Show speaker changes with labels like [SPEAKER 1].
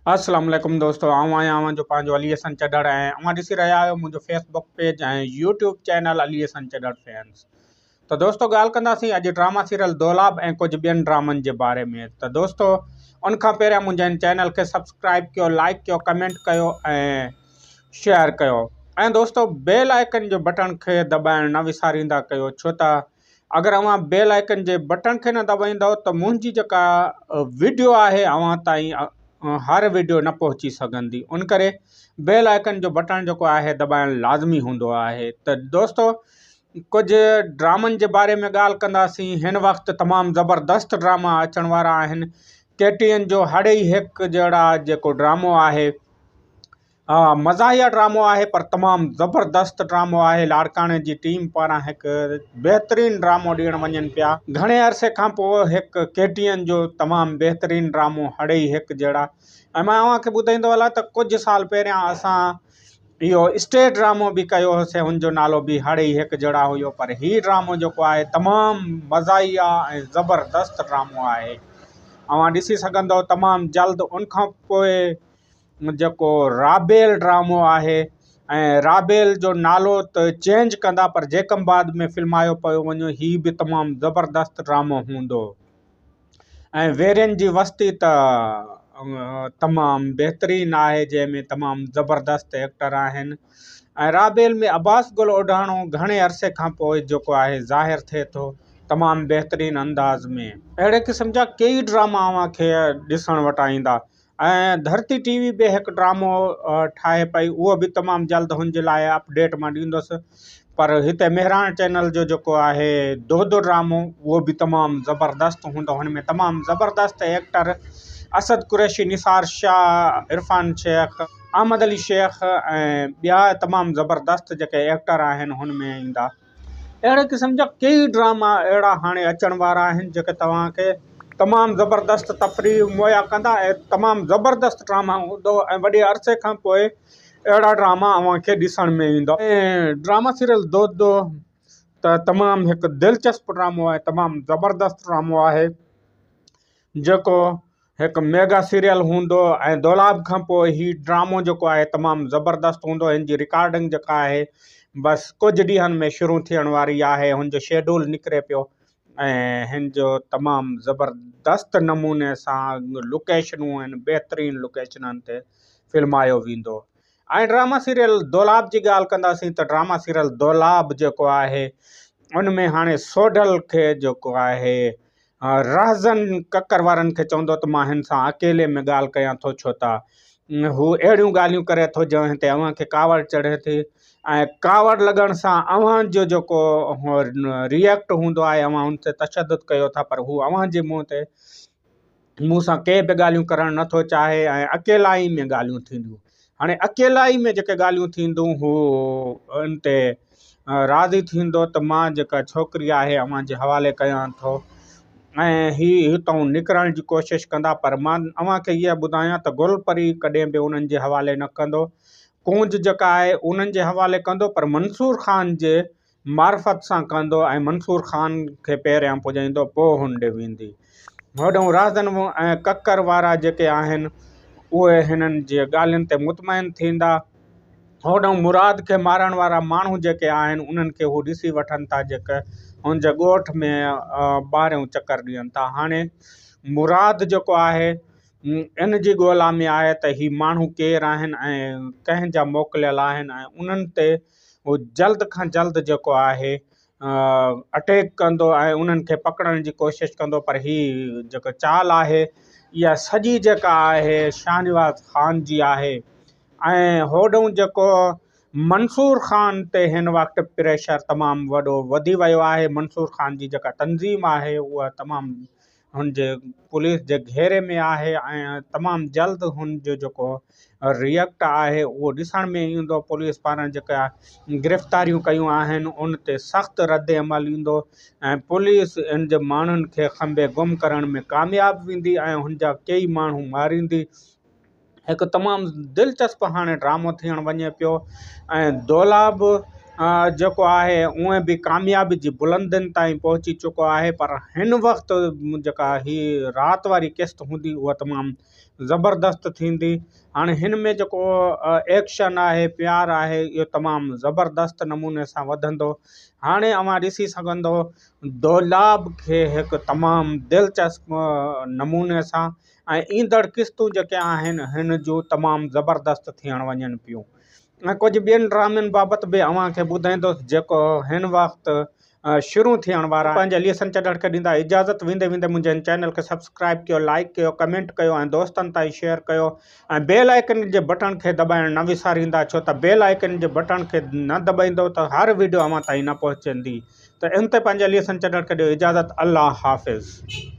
[SPEAKER 1] السلام عليڪم دوستو آئون آهيان اوهان جو پنهنجو علي حسن چڏڙ ۽ اوهان ڏسي رهيا آهيو منهنجو Facebook page ۽ YouTube channel Ali Hassan Chadhar fans ته دوستو ڳالهه ڪنداسين اڄ ڊراما سيريل دولاب ۽ ڪجهه ٻين ڊرامن جي باري ۾ ته دوستو ان کان پهريان منهنجي ان چينل کي سبسڪرائب ڪيو لائڪ ڪيو ڪمينٽ ڪيو ۽ شيئر ڪيو ۽ دوستو بيل آئڪن جو بٽڻ کي دٻائڻ نه وساريندا ڪيو ڇو ته اگر اوهان بيل آئيڪن جي بٽڻ کي نه دٻائيندؤ ته منهنجي جيڪا وڊيو آهي اوهان تائين هر وڊيو نه پهچي سگهندي ان ڪري بيل آئيڪن جو بٽڻ جيڪو آهي دٻائڻ لازمي هوندو آهي ته دوستو ڪجهه ڊرامن جي باري ۾ ڳالهه ڪنداسين هن وقت تمام زبردست ڊراما اچڻ وارا آهن ڪيٽين جو هڙئي هڪ جهڙا جيڪو ڊرامو آهي ها مزاحيه ڊرامو آهي پر تمام زبردست ڊرامو آهي لاڙڪاڻي جي ٽيم پاران هڪ بهترين ڊرامو ڏيڻ وڃن پيا گهڻي عرصي کان پوء هڪ ڪي ٽي اين جو تمام بهترين ڊرامو هڙئي هڪ جهڙا ۽ مان اوهان کي ٻڌائيندو هلا ته ڪجهه سال پهريان اسان اهو اسٽيج ڊرامو به ڪيو هوسي ان جو نالو به هڙئي هڪ جهڙا هيو پر هي ڊرامو جيڪو آهي تمام مزاحيه ۽ زبردست ڊرامو آهي اوهان ڏسي سگهندو تمام جلد ان کان پوء جيڪو رابيل ڊرامو آهي ۽ رابيل جو نالو ته چينج ڪندا پر جيڪم بعد ۾ فلمايو پيو وڃي هي به تمام زبردست ڊرامو هوندو ۽ ويرين جي وستي ته تمام بهترين آهي جنهن ۾ تمام زبردست ايڪٽر آهن ۽ رابيل ۾ عباس گل اوڍاڻو گهڻي عرصي کان پوء جيڪو آهي ظاهر ٿئي ٿو تمام بهترين انداز ۾ اهڙي قسم جا ڪيئي ڊراما اوهان کي ڏسڻ وٽ ايندا ۽ ڌرتي ٽي وي به هڪ ڊرامو ٺاهي پئي اهو به تمام جلد هن جي لاء اپڊيٽ مان ڏيندس پر هتي مهراڻ چينل جو جيڪو آهي دودو ڊرامو اهو به تمام زبردست هوندو هن ۾ تمام زبردست ايڪٽر اسد قريشي نثار شاهه عرفان شيخ احمد علي شيخ ۽ ٻيا تمام زبردست جيڪي ايڪٽر آهن هن ۾ ايندا. اهڙي قسم جا ڪيئي ڊراما اهڙا هاڻي اچڻ وارا آهن جيڪي توهان کي تمام زبردست تفريح مهيا ڪندا ۽ تمام زبردست ڊراما هوندو ۽ وڏي عرصي کان پوء اهڙا ڊراما اوهان کي ڏسڻ ۾ ايندا. ڊراما سيريل دو دو ته تمام هڪ دلچسپ ڊرامو ۽ تمام زبردست ڊرامو آهي. جيڪو هڪ ميگا سيريل هوندو ۽ دولاب کان پوء هي ڊرامو جيڪو آهي تمام زبردست هوندو هن جي رڪارڊنگ جيڪا آهي بس ڪجهه ڏينهن ۾ شروع ٿيڻ واري آهي هن جو شيڊول نڪري پيو ۽ هن جو تمام زبردست نموني سان لوڪيشنون ۽ بهترين لوڪيشنن تي فلمايو ويندو ۽ ڊراما سيريل دولاب جي ڳالهه ڪنداسين ته ڊراما سيريل دولاب جيڪو آهي ان ۾ هاڻي سوڍل کي جيڪو آهي رهزن ڪڪر وارن کي چوندو ته مان هن سان اڪيلي ۾ ڳالهه ڪيان ٿو ڇو ته هو اهڙيون ڳالهيون ڪري ٿو جنهن تي اوهان کي ڪاوڙ چڙهي ٿي ۽ ڪاوڙ لڳڻ سان اوهان جو جيڪو ريئڪٽ هوندو آهي اوهان ان تي تشدد ڪيو ٿا پر هو اوهان جي منهن تي مون سان ڪي به ڳالهيون ڪرڻ نه ٿو چاهي ۽ اڪيلائي ۾ ڳالهيون ٿينديون هاڻي اڪيلائي ۾ جيڪي ڳالهيون ٿيندون هو ان تي راضي ٿيندو ته مان جيڪا ڇوڪري آهي اوهان جي حوالي ڪيان ٿو ۽ هي هتئون نڪرڻ جي ڪوشش ڪندا پر مان اوهان کي اها ٻڌايان ته گل پري ڪڏهن به انهن جي حوالي نه ڪندو ڪونج جيڪا آهي انهن جي حوالي ڪندو پر منصور خان جي معرفت سان ڪندو ۽ منصور خان کي پهريان پڄائيندو پوء هن ڏي ويندي. هوڏهون رهزن ۽ ڪڪر وارا جيڪي آهن اهي هنن جي ڳالهين تي مطمئن ٿيندا. هوڏهون مراد کي مارڻ وارا ماڻهو جيڪي آهن انهن کي هو ڏسي وٺن ٿا جيڪي هن جي ڳوٺ ۾ ٻاهريون چڪر ڏين ٿا. هاڻي مراد جيڪو آهي ان جي ڳولا ۾ آهي ته هي ماڻهو ڪير آهن ۽ ڪنهن جا موڪليل آهن ۽ انهن تي هو جلد کان جلد جيڪو آهي اٽيڪ ڪندو ۽ انهن کي پڪڙڻ جي ڪوشش ڪندو پر هي جيڪا چال آهي اها سڄي جيڪا آهي شاهنواز خان جي آهي ۽ هوڏنهن جيڪو منصور خان تي هن وقت پريشر تمام وڏو وڌي ويو آهي منصور خان جي جيڪا تنظيم آهي اها تمام هن جي پوليس جي گهيري ۾ آهي ۽ تمام جلد هن جو جيڪو ريئڪٽ آهي اهو ڏسڻ ۾ ايندو پوليس پاران جيڪا گرفتاريون ڪيون آهن ان تي سخت رد عمل ايندو ۽ پوليس ان جي ماڻهن کي کنڀي گم ڪرڻ ۾ ڪامياب ويندي ۽ هن جا ڪيئي ماڻهو ماريندي هڪ تمام دلچسپ هاڻي ڊرامو ٿيڻ وڃي پيو ۽ دولا به جيڪو آهي اونئن به ڪاميابي جي بلندين تائين پهچي چڪو آهي پر هن وقت جيڪا هي رات واري قسط هوندي اها تمام زبردست ٿيندي هاڻي هن ۾ جيڪو ايڪشن آهي پيار آهي اهو تمام زبردست نموني سان وڌندو هاڻي اوهان ڏسي سگهندو دولاب کي هڪ تمام دلچسپ نموني سان ۽ ايندڙ قسطون جيڪي آهن هن جو تمام زبردست ٿيڻ وڃن پيون ۽ ڪجهه ٻين ڊرامن بابت به اوهان کي ٻڌائيندس جيڪو هن وقت شروع ٿيڻ وارا آهن پنهنجي ليسن چڏهڻ کي ڏيندا اجازت ويندي ويندي منهنجي هن چينل کي سبسڪرائب ڪيو لائيڪ ڪيو ڪمينٽ ڪيو ۽ دوستن تائين شيئر ڪيو ۽ بيل آئيڪن جي بٽڻ کي دٻائڻ نه وساريندا ڇو ته بيل آئيڪن جي بٽڻ کي نه دٻائيندو ته هر ويڊيو اوهان تائين نه پهچندي ته ان تي پنهنجي ليسن چڏهڻ کي ڏيو اجازت الله حافظ.